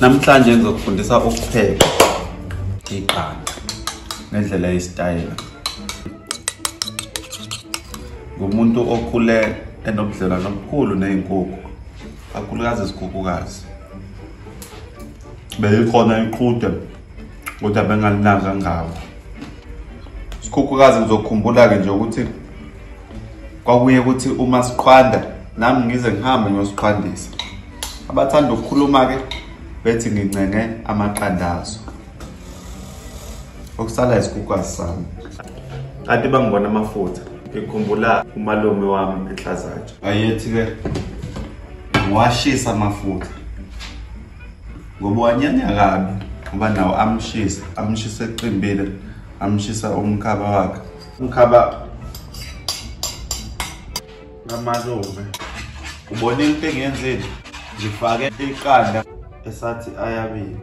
namhlanje ngizokufundisa ukupheka iqanda ngendlela yesitayela ngumuntu okhule enobudlelwano obukhulu ney'nkukhu kakhulukazi izikhukhukazi beyikhona iqhude kodwa bengalinaka ngawo isikhukhukazi ngizokhumbula-ke nje ukuthi kwakuye ukuthi uma siqhwanda nami ngize ngihambe ngiyosiqhwandisa abathanda ukukhuluma-ke bethi ngincenge amaqandazo okusala isikukwazi sami kade bangibona amafutha ngikhumbula umalume wami enhlazatsha ayethi-ke ngiwashisa amafutha ngoba wanyanya kabi ngoba nawo amshisa amshisa eqimbile amshisa umkhaba wakhe Mkhaba kamalume ubone into engiyenzile ngifake iqanda esathi ayabili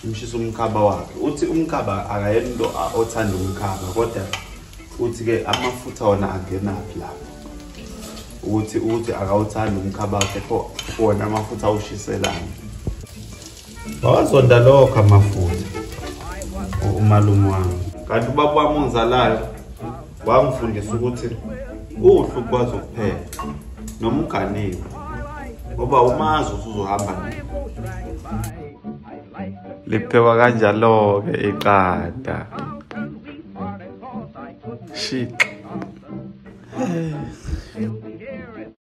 umshisa umkhaba wakhe uthi umkhaba akayena into othanda umkhaba kodwa uthi-ke amafutha wona angenaphi lapho ukuthi ukuthi akawuthandi umkhaba wakhe pho wona amafutha awushiselani wawazonda lokho amafutha umalume wami kanti ubaba wami ongizalayo wangifundisa ukuthi kuhle ukwazi ukuphela noma uganiwe ngoba umazi usuzohamba nini liphekwa kanjalo-ke iqada shit